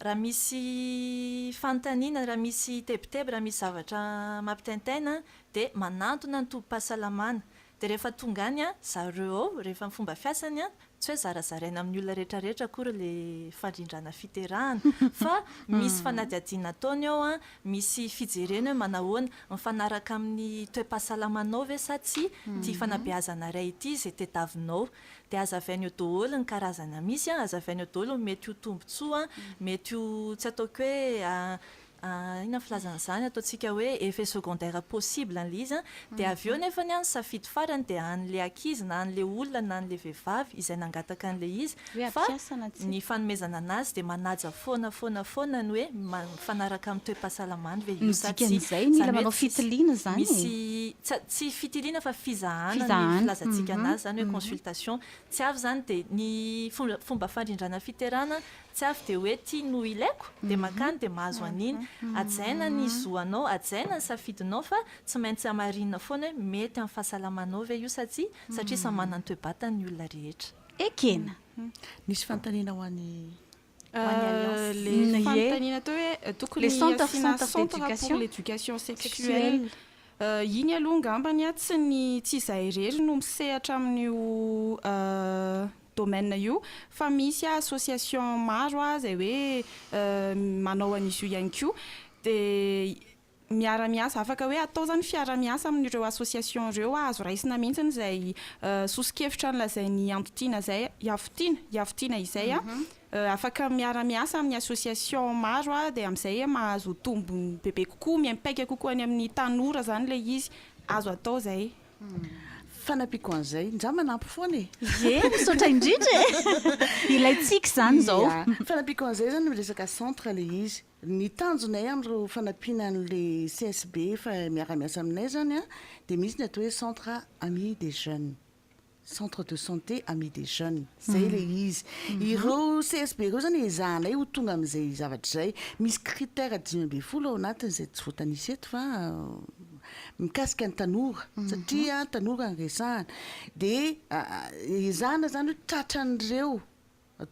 Raha misy fanontaniana, raha misy tebiteby, raha misy zavatra mampitaintaina dia manantona ny tobim-pahasalamana. Dia rehefa tonga any an, zareo ao, rehefa ny fomba fiasany an, tsy hoe zarazaraina amin'ny olona rehetra rehetra akory ilay fandrindrana fiterahana, fa misy fanadihadiana ataony ao an, misy fijereny hoe manahoana, mifanaraka amin'ny toe-pahasalamanao ve sa tsia ity fanabeazana iray ity izay tediavinao. Dia hazavainy eo daholo ny karazana misy an, hazavainy eo daholo ny mety ho tombontsoa, mety ho tsy ataoko hoe Ah, inona filazana izany, ataontsika hoe effet secondaire possible an'ilay izy an, dia avy eo nefany an ny safidy farany dia an'ilay ankizy na an'ilay olona na an'ilay vehivavy izay nangataka an'ilay izy, Hoe fa ampiasa na tsia. ny fanomezana an'azy dia manaja foana foana foana ny hoe ma- mifanaraka amin'ny toe-pahasalamany ve io Ny sa tsia, dikan'izay, mila izany hoe manao tsisy fitiliana izany e. misy tsa- tsy fitiliana fa fizahana ny Fizahana. filazantsika Mhm. an'azy izany hoe Mhm. consultation, tsy avy izany dia ny fomba fomba fandrindrana fiterana Tsy avy dia hoe tia no ilaiko, dia mankany dia mahazo an'iny. Hajaina ny zo anao, hajaina ny safidinao fa tsy maintsy hamarinina foana hoe mety amin'ny fahasalamanao ve io sa tsia, satria samy manana ny toe-batany ny olona rehetra. Ekena. Nisy fanontaniana ho an'i ho an'i Alliance. Le Ny fanontaniana teo hoe tokony Le centre- asiana centre centre pour d'éducation l'éducation sexuelle. sexuelle. Eh, iny aloha angambany an, tsy ny tsy izahay irery no misehatra amin'io eh, domaine io fa misy association maro ah zay hoe manao an'izy io ihany koa de miara-miasa afaka hoe atao zany fiara-miasa amin'ireo association ireo azo raisina mihitsiny zay soso-kevitra nolazain'i Antotiana zay i Afotiana i Afotiana izay ah afaka miara-miasa amin'ny association maro ah de am'zay ah mahazo tombony bebe kokoa miaimpaika kokoa any amin'ny tanora zany le izy azo atao zay Fanampiako an'izay. Nja manampy foana e! Ie, misaotra indrindra e! Ilay tsiky izany izao. Ia. Fanampiako an'izay izany ny resaka centre ilay izy. Ny tanjonay amin'ireo fanampiana an'ilay CSB efa miara-miasa aminay izany dia misy ny atao hoe centre Amis des jeunes, centre de santé Amis des jeunes. Izay ilay izy. Ireo CSB ireo izany ezahanay ho tonga amin'izay zavatra izay. Misy critères dimy ambin'ny folo ao anatiny izay tsy voatanisa eto fa mikasika ny tanora satria tanora no resahana dia ezahana izany hoe tratran'ireo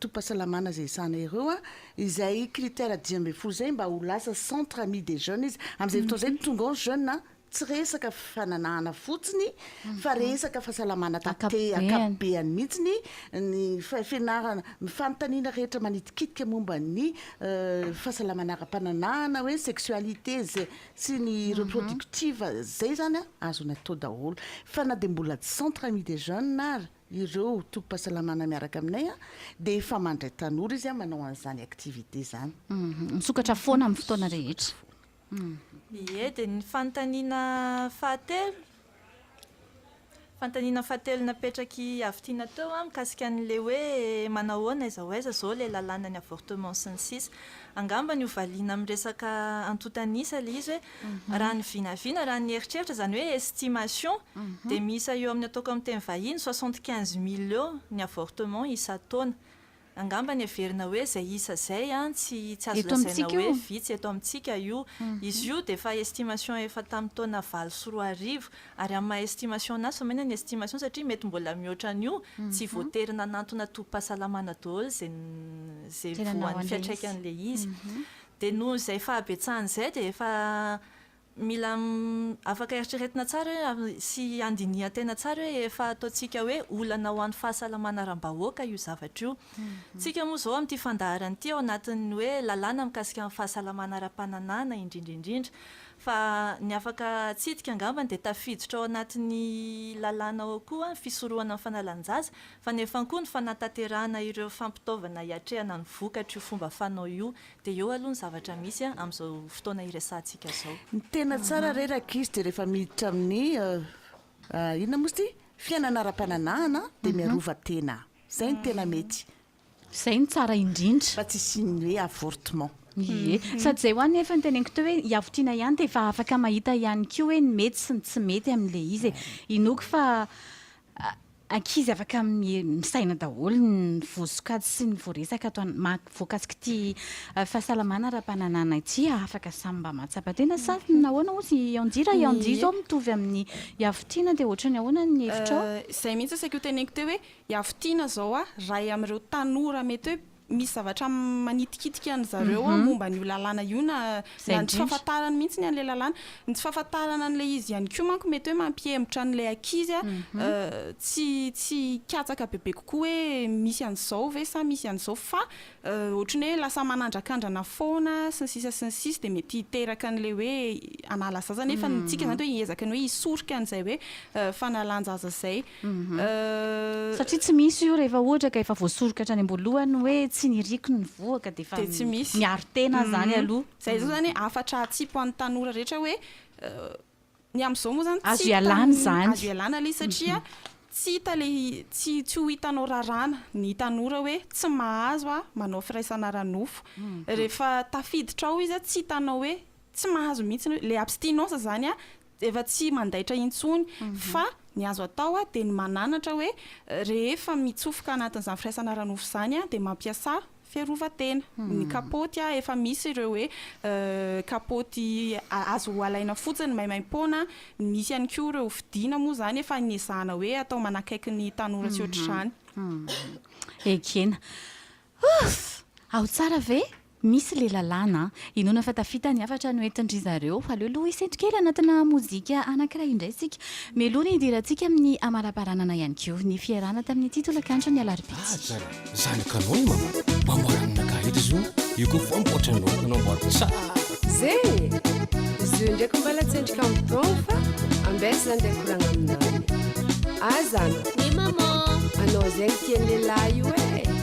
tobim-pahasalamana izay ezahana ireo izay critère dimy ambin'ny folo izay mba ho lasa centre ami des jeunes izy, amin'izay fotoana izay tonga ao ny jeune tsy resaka fananahana fotsiny fa resaka fahasalamana taty ankapobeny mihitsy ny fianarana, ny fanontaniana rehetra manidikitika momba ny fahasalamana ara-pananahana hoe sexualité izay Tsy ny reproductive zay zany an azo natao daholo fa na dia mbola centre ami des jeunes ary ireo tobim-pahasalamana miaraka aminay an dia efa mandray tanora izy an manao an'izany activité izany. Misokatra foana amin'ny fotoana rehetra. Ie, dia ny fanontaniana fahatelo Fanontaniana fahatelo napetrak'i Avitiana teo mikasika an'ilay hoe manahoana, aiza ho aiza izao ilay lalàna ny avortement sy ny sisa. Angambany ho valiana amin'ny resaka antontan'isa ilay izy hoe raha ny vinavina, raha ny eritreritra, izany hoe estimation, dia miisa eo amin'ny ataoko amin'ny teny vahiny soixante quinze mille eo ny avortement isan-taona. Angambany heverina hoe izay isa izay an, tsy tsy azo lazaina hoe vitsy eto amintsika io. Izy io dia efa estimation efa tamin'ny taona valo sy roa arivo. Ary amin'ny maha estimation anazy, fa maina ny estimation satria mety mbola mihoatra an'io, tsy voatery nanantona tobim-pahasalamana daholo izay izay voan'ny fiantraikan'ilay izy. Dia noho izay fahabetsahany izay dia efa Mila afaka eritreretina tsara hoe sy handinihan-tena tsara hoe efa ataontsika hoe olana ho an'ny fahasalamana aram-bahoaka io zavatra io. Isika moa izao amin'ity fandaharana ity ao anatin'ny hoe lalàna mikasika ny fahasalamana ara-pananahana indrindra indrindra. Fa ny afaka atsidika angambany dia tafiditra ao anatin'ny lalàna ao koa ny fisorohana ny fanalan-jaza fa nefany koa ny fanatanterahana ireo fampitaovana hiatrehana ny vokatr'io fomba fanao io Dia eo aloha ny zavatra misy an, amin'izao fotoana iresahantsika zao. Ny tena tsara re rakisy dia rehefa miditra amin'ny inona moa izy ity? fiainana ara-pananahana dia miarova tena. Izay no tena mety. Izay no tsara indrindra. Fa tsy hisian'ny hoe avortement. Ie. Sady izay hoa nefa no teneniko teo hoe iavotiana ihany dia efa afaka mahita ihany koa hoe ny mety sy ny tsy mety amin'ilay izy e. Inoako fa ankizy afaka misaina daholo ny voasokajy sy ny voaresaka ato voakasik'ity fahasalamana ara-pananana ity afaka samy mba mahatsapa tena sa nahoana moa zy anji raha i anji zao mitovy amin'ny iavotiana dia ohatrany ahoana ny hevitrao izay mihitsy asaiko hoteneniko teo hoe iavotiana zao a ray amin'ireo tanora mety hoe misy zavatra manitikitika an-dry zareo an, momba an'io lalàna io na Izay na ny tsy indrindra. fahafantarany mihitsiny an'ilay lalàna. Ny tsy fahafantarana an'ilay izy ihany koa manko mety hoe mampihemotra an'ilay ankizy a, eh, tsy tsy hikatsaka bebe kokoa hoe misy an'izao ve sa misy an'izao fa eh, ohatry ny hoe lasa manandrakandrana foana sy ny sisa sy ny sisa dia mety hiteraka an'ilay hoe hanala zaza nefa ny antsika izany dia hoe hiezaka ny hoe hisorika an'izay hoe eh, fanalan-jaza izay. Satria tsy misy io rehefa ohatra ka efa voasoroka hatrany am-boalohany hoe tsy niriko ny voa ka dia efa miaro tena izany aloha. Izay izao izany hafatra hatsipy ho an'ny tanora rehetra hoe ny amin'izao moa izany azo ialana izany, azo ialana ilay izy satria tsy hita ilay, tsy ho hitanao raràna ny tanora hoe tsy mahazo aho manao firaisana ara-nofo. Rehefa tafiditra ao izy tsy hitanao hoe tsy mahazo mihitsy, ilay abstinence izany efa tsy mandaitra intsony fa ny azo atao dia ny mananatra hoe rehefa mitsofoka anatin'izany firaisana ara-nofo izany dia mampiasa fiarovan-tena, ny kapaoty efa misy ireo hoe kapaoty azo alaina fotsiny maimaim-poana, misy ihany koa ireo fidiana moa izany efa niezahana hoe atao manakaiky ny tanora tsy ohatr'izany. Ekena. Ouff! Ao tsara ve? Misy le lalàna a! Inoana fa tafita ny hafatra noentin-dry zareo. Aleo aloha hisento kely anatina mozika anankiray indray isika, mialoha ny hidirantsika amin'ny hamalabaranana ihany koa ny fiarahana tamin'ity tolakandron'ny alarobia ity. Aza zanaka anao i mama mamboara ny naka eto zao io koa famboatra anao koa namboariko tsara. Zeny! Izy io ndraiky mbala tsy endrika amin'ny temps fa ambesy zany ndray koragna aminany. Aza ana! Ny maman! Anao zegny tian'i lehilahy io e!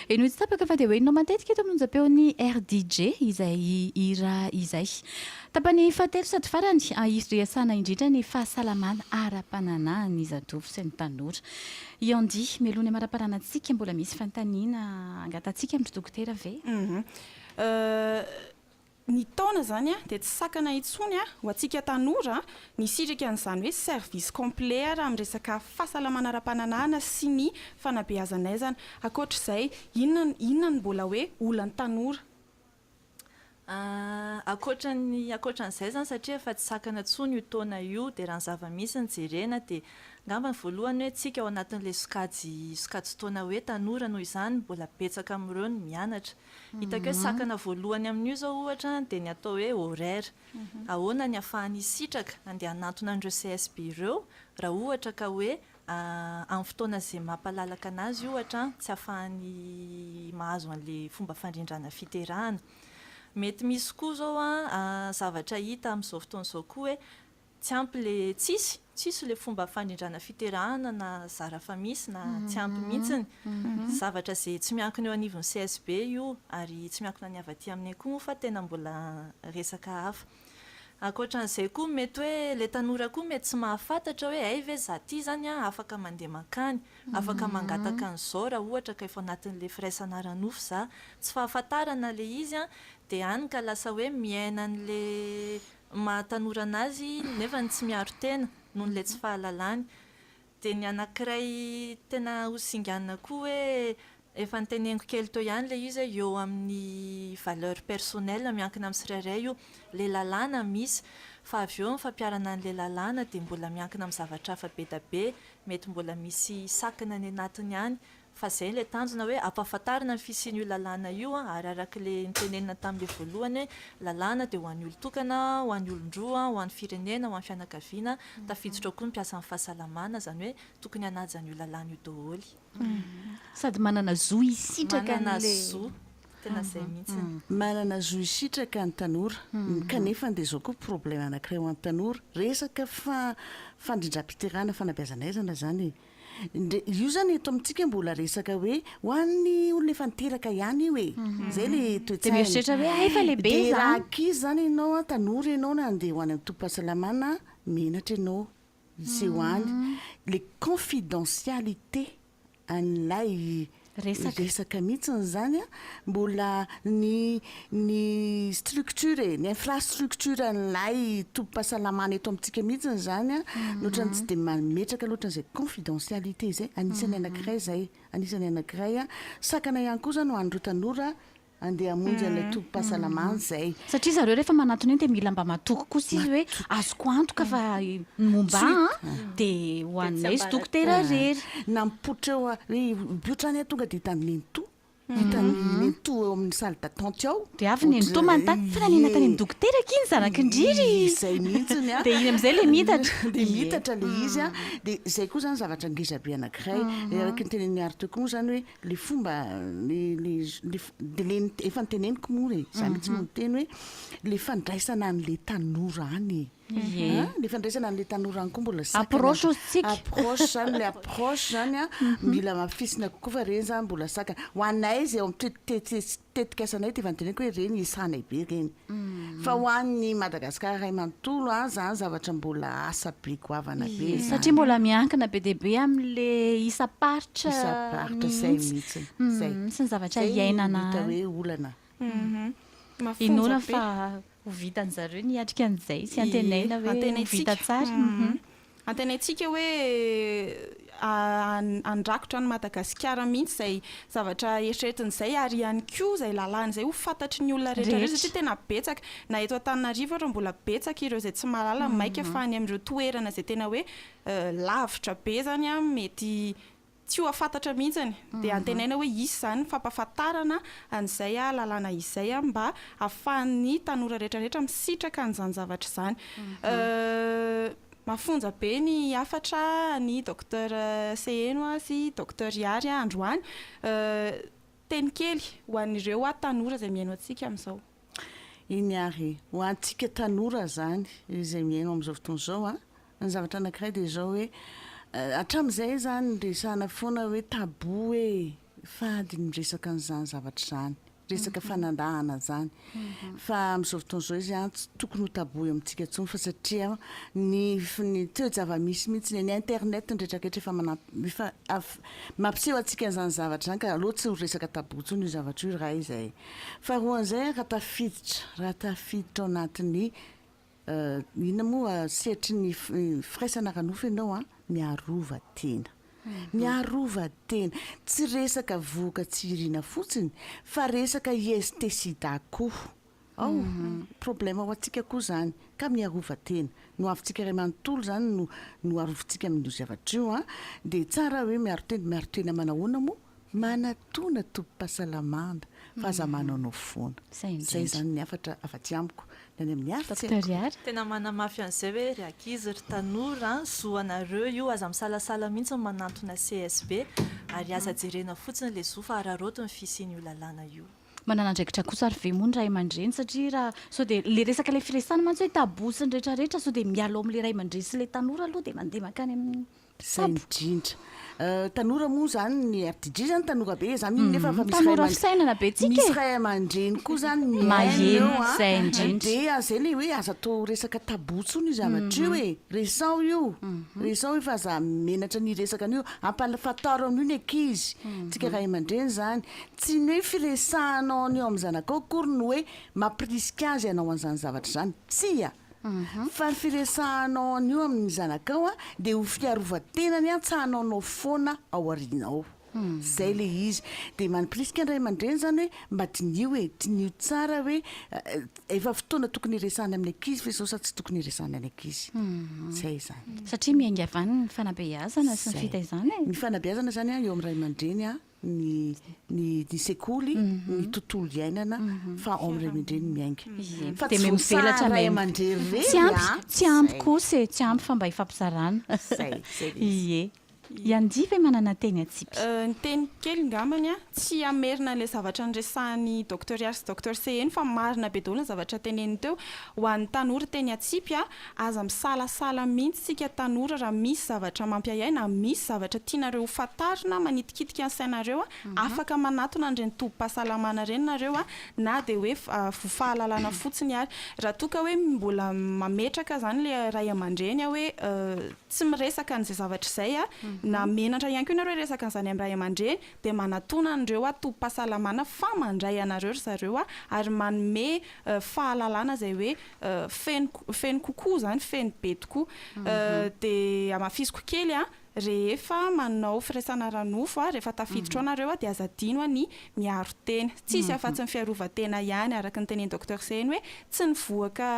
Henoy tsy tapaka fa dia ho henonao matetika eto amin'ny onjam-peon'ny RDJ izay hira izay. Tapany fahatelo sady farany, hisy resahana indrindra ny fahasalamana ara-pananahan'ny zatovo sy ny tanora. I Andy, meloha ny hamaraparana antsika, mbola misy fanontaniana angatantsika amin'ry Dokotera ve? Uhum. Euh. Ny taona izany dia tsy sakana intsony ho antsika tanora ny hisitraka an'izany hoe service complet raha amin'ny resaka fahasalamana ara-pananahana sy ny fanabeazan'aizana. Ankoatr'izay, inona inona no mbola hoe olan'ny tanora? Ankoatran'ny ankoatran'izay izany satria efa tsy sakana intsony io taona io dia raha ny zava-misy no jerena dia angamba ny voalohany hoe isika ao anatin'ilay sokajy sokajin-taona hoe tanora noho izany mbola betsaka amin'ireo ny mianatra. Hitako hoe sakana voalohany amin'io izao ohatra dia ny atao hoe horaire. Ahoana ny ahafahan'ny hisitraka handeha hanantona an'ireo CSB ireo raha ohatra ka hoe amin'ny fotoana izay mampalalaka an'azy ohatra tsy ahafahany mahazo an'ilay fomba fandrindrana fiterahana. Mety misy koa izao zavatra hita amin'izao fotoana izao koa hoe Tsy ampy le tsisy, tsisy le fomba fandrindrana fiterahana na zara fa misy na tsy ampy mihintsiny. Zavatra ze tsy miankina eo anivon'ny CSB io ary tsy miankina ny avy aty aminay koa moa fa tena mbola resaka hafa. Ankoatran'izay koa mety hoe le tanora koa mety tsy mahafantatra hoe hay ve za ty zany an afaka mandeha mankany, afaka mangataka an'izao raha ohatra ka efa ao anatin'le firaisana ara-nofo za. Tsy fahafantarana le izy an, de any ka lasa hoe miaina an'le maha tanora anazy nefa ny tsy miaro tena noho ilay tsy fahalalany. Dia ny anankiray tena ho singanina koa hoe efa noteneniko kely teo ihany ilay izy hoe eo amin'ny valeurs personnelles miankina amin'ny tsirairay io. Ilay lalàna misy, fa avy eo ny fampiharana an'ilay lalàna dia mbola miankina amin'ny zavatra hafa be dia be, mety mbola misy sakana any anatiny any Fa zay ilay tanjona hoe ampahafantarina ny fisian'io lalàna io an, ary arak'ilay notenenina tamin'ilay voalohany hoe lalàna dia ho an'ny olon-tokana, ho an'ny olon-droa, ho an'ny firenena, ho an'ny fianakaviana, tafiditra ao koa ny mpiasan'ny fahasalamana, izany hoe tokony hanaja an'io lalàna io daholo. Sady manana zo hisitraka an'ilay. Manana zo, tena izay mihitsy. Manana zo hisitraka ny tanora, kanefa dia izao koa problème anankiray ho an'ny tanora, resaka fa fandrindram-piterahana fanabeazana aizana izany e. Ndry io zany eto amintsika mbola resaka hoe ho an'ny olona efa niteraka ihany io e. Zay le toe-tsaina. Dia mieritreritra hoe hay efa lehibe izany. Dia raha ankizy izany ianao an, tanora ianao na andeha ho any an-tobim-pahasalamana, menatra ianao hiseho any. Le confidentialité an'ilay resaka. Resaka mihitsiny izany a! Mbola ny ny structure e, ny infrastructuren'ilay tobim-pahasalamana eto amintsika mihitsiny izany a, no ohatran'ny tsy dia mametraka loatra an'izay confidentialité izay. Anisan'ny anankiray izay, anisan'ny anankiray a. Sakana ihany koa izany ho an'ireo tanora Andeha hamonjy an'ilay tobim-pahasalamany izay. Satria zareo rehefa manatona eny dia mila mba matoky koa isika hoe azoko antoka fa ny momba ahy dia ho anay sy dokotera irery. Nampoitra eo hoe io trano io tonga dia hitan'ny nenitoa, hitan'ny nenitoa eo amin'ny salle d'attente ao. Dia avy ny nenitoa manontany, fa nanena tany amin'ny dokotera akia ny zarakindry? Izay mihitsy ny an! Dia iny amin'izay ilay miitatra. Dia miitatra ilay izy an! Dia izay koa izany zavatra ngezabe anankiray, araka ny tenenin'i Ary teo koa moa izany hoe. le fomba le le le de le efa niteneniko moa re za mihitsy no niteny hoe le fandraisana an'le tanora any e le fandraisana an'le tanora any koa mbola approche ozintsika approche zany le approche zany a mila mafisina kokoa fa reny zany mbola sakana ho anay zay eo am-pite- tetikasanay dia efa noteneniko hoe ireny esanay be ireny fa ho an'ny Madagascar iray manontolo an zany zavatra mbola asa be goavana be zany. Satria mbola miankina be dia be amin'le isam-paritra isam-paritra izay mihitsy izay sy ny zavatra iainana any. Izay no hita hoe olana. Inoana fa ho vitan'zareo ny hiatrika an'izay sy antenaina hoe ho vita tsara. Antenaintsika hoe handrakotra an'i Madagasikara mihitsy izay zavatra eritreretiny izay ary ihany koa izay lalàna izay ho fantatry ny olona rehetra ireo satria tena betsaka na eto Antananarivo ary mbola betsaka ireo izay tsy mahalala maika fa any amin'ireo toerana izay tena hoe lavitra be izany mety tsy ho afantatra mihintsany dia antenaina hoe hisy izany fampafantarana an'izay lalàna izay mba afahan'ny tanora rehetra rehetra misitraka an'izany zavatra izany mafonja be ny hafatra an'i Docteur Seheno sy Docteur Ihary androany Teny kely ho an'ireo aho tanora izay mihaino antsika amin'izao. Eny ary, ho antsika tanora izany izay mihaino amin'izao fotoana izao an! Ny zavatra anankiray dia izao hoe, hatramin'izay izany niresahana foana hoe tabou hoe fady ny miresaka an'izany zavatra izany, resaka fanandahana izany. Fa amin'izao fotoana izao izy tsy tokony ho tabou eo amintsika intsony fa satria ny ny toe-javamisy mihitsy ny eny internet ny rehetra rehetra efa manam efa mampiseho antsika an'izany zavatra izany ka aleo tsy ho resaka tabou intsony io zavatra io iray izay. Faharoa an'izay raha tafiditra raha tafiditra ao anatin'ny Inona moa sehatry ny firaisana ara-nofo ianao an? Miarova tena. Miarova tena. Tsy resaka vohoka tsy irina fotsiny fa resaka IST sida koa ao. Problema ho antsika koa izany. Ka miarova tena. Ny ho avintsika iray manontolo izany no arovintsika amin'io zavatra io an. Dia tsara hoe miaro tena. Miaro tena manahoana moa? Manatona tobim-pahasalamana fa aza manao no foana. Izay izany ny hafatra avy aty amiko ny any amin'ny art eko. Tena manamafy an'izay hoe ry ankizy ry tanora an, zo anareo io aza misalasala mihitsy ny manantona CSB ary aza jerena fotsiny ilay zo fa araraoty ny fisian'io lalàna io. Manana andraikitra kosa ary ve moa ny ray aman-dreny satria raha sao dia ilay resaka ilay firesahana mantsy hoe tabou sy ny rehetra rehetra sao dia mialao amin'ilay ray aman-dreny sy ilay tanora aloha dia mandeha mankany amin'ny. Tsara indrindra. Tanora moa izany ny RDJ izany tanora be izany iny nefa efa misy ray fisainana be tsika misy ray aman-dreny koa izany mihaino eo a. Izay indrindra. Dia izay ilay hoe aza atao resaka tabou intsony io zavatra io e. Resaho io, resaho io fa aza menatra ny hiresaka an'io. Ampahafantaro an'io ny ankizy. Tsika ray aman-dreny izany. Tsy ny hoe firesahanao an'io amin'ny zanakao akory no hoe mampirisika azy hanao an'izany zavatra izany. Tsia. Fa ny firesahanao an'io amin'ny zanakao dia ho fiarovan-tena ny antsahanao anao foana ao aoriana ao. Izay ilay izy. Dia manipirisika ny ray aman-dreny izany hoe mba diniho e, diniho tsara hoe efa fotoana tokony hiresahana amin'ny ankizy ve izao sa tsy tokony hiresahana ny ankizy. Izay izany. Satria miainga avy any ny fanabeazana sy ny fitaizana e. Ny fanabeazana izany eo amin'ny ray aman-dreny ny ny ny sekoly, ny tontolo iainana fa ao amin'ny renindreniny miainga. Fa tsy voasahahan'ny ray aman-dreny ireny an! Tsy ampy, tsy ampy kosa e, tsy ampy fa mba ifampizarana. Izay, izay ilay izy. Ie. Iandia ve manana teny atsipy? Ny teniko kely ngambany an, tsy hamerina an'ilay zavatra niresahan'i Docteur Yary sy Docteur Seheno fa marina be daholo ny zavatra teneniny teo ho an'ny tanora teny atsipy an! Aza misalasala mihitsy tsika tanora raha misy zavatra mampiahiahy na misy zavatra tianareo ho fantarina manitikitika ny sainareo a, afaka manatona an'ireny tobim-pahasalamana ireny nareo a, na dia hoe voa fahalalana fotsiny ary. Raha toa ka hoe mbola mametraka izany ilay ray aman-dreny a hoe tsy miresaka an'izay zavatra izay a, na menatra ihany koa ianareo hiresaka an'izany amin'ny ray aman-dreny dia manatona an'ireo a tobim-pahasalamana fa mandray anareo ry zareo a ary manome fahalalana izay hoe feno feno kokoa izany, feno be tokoa. Dia hamafisiko kely an, rehefa manao firaisana ara-nofo an, rehefa tafiditra ao nareo an, dia aza adino ny miaro tena. Tsy hisy afa-tsy ny fiarovan-tena ihany, araka ny tenenin'i Docteur Zeny hoe tsy ny vohoka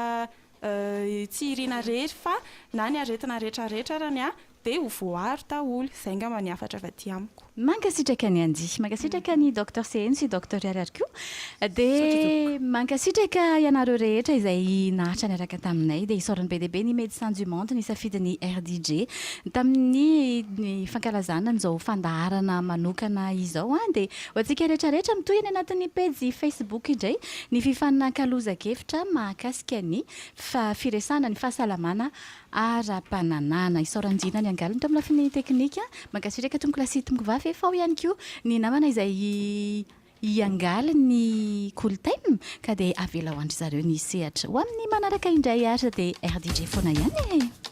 tsy iriana irery fa na ny aretina rehetra rehetra arany an, Dia ho voaaro daholo. Izay angamba ny hafatra avy aty amiko. Mankasitraka ny anjy. Mankasitraka ny Docteur Seheno sy Docteur Riariary koa. Misaotra tompoko. Dia mankasitraka ianareo rehetra izay naharitra niaraka taminay. Dia isaorany be dia be ny Médecins du Monde nisafidy ny RDJ tamin'ny ny fankalazana an'izao fandaharana manokana izao. Dia ho antsika rehetra rehetra mitohy any anatin'ny pejy Facebook indray ny fifanakalozan-kevitra mahakasika ny fa firesahana ny fahasalamana ara-pananahana. Isaoranjina ny angaliny tao amin'ny lafiny teknika. Mankasitraka Tompoko lahy sy Tompoko vavy. Efa ao ihany koa ny namana izay hiangaly ny Kolotaina ka dia avela ho an-dry zareo ny sehatra. Ho amin'ny manaraka indray ary sa dia RDJ foana ihany e!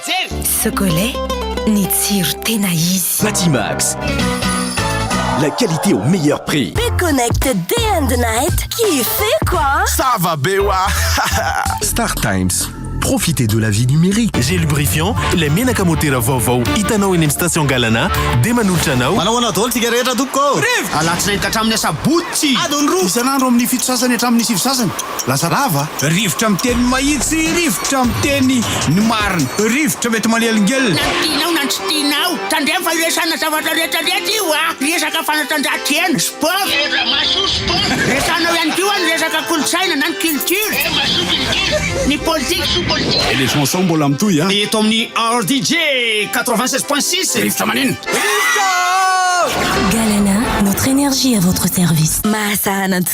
Jery! Socolait, ny tsiro tena izy. Batimax, la qualité au meilleur prix. Be connect day and night, kiffeko a! Ça va be wa! Star Times, profitez de la vie numérique. Gel lubrifiant, ilay menaka motera vaovao hitanao eny amin'ny station Galana dia manolotra anao. Manao ahoana daholo tsika rehetra tompoko ô? Alatsinainy ka hatramin'ny asabotsy! Adiny roa isan'andro amin'ny fito sasany hatramin'ny sivy sasany. Lasa rava, rivotra miteny mahitsy, rivotra miteny ny marina, rivotra mety manelingelina. Na ny tianao na ny tsy tianao, tandremo fa iresahana zavatra rehetra rehetra io a! Resaka fanatanjahantena, sport, resahanao ihany koa ny resaka kolontsaina na ny culture, ny politika. Elephant sao mbola mitohy a! Eto amin'ny RDJ quatre-vingt seize point six, rivotra maneno. Rivotra! Galana, notre énergie à votre service. Mahasaha ananjy.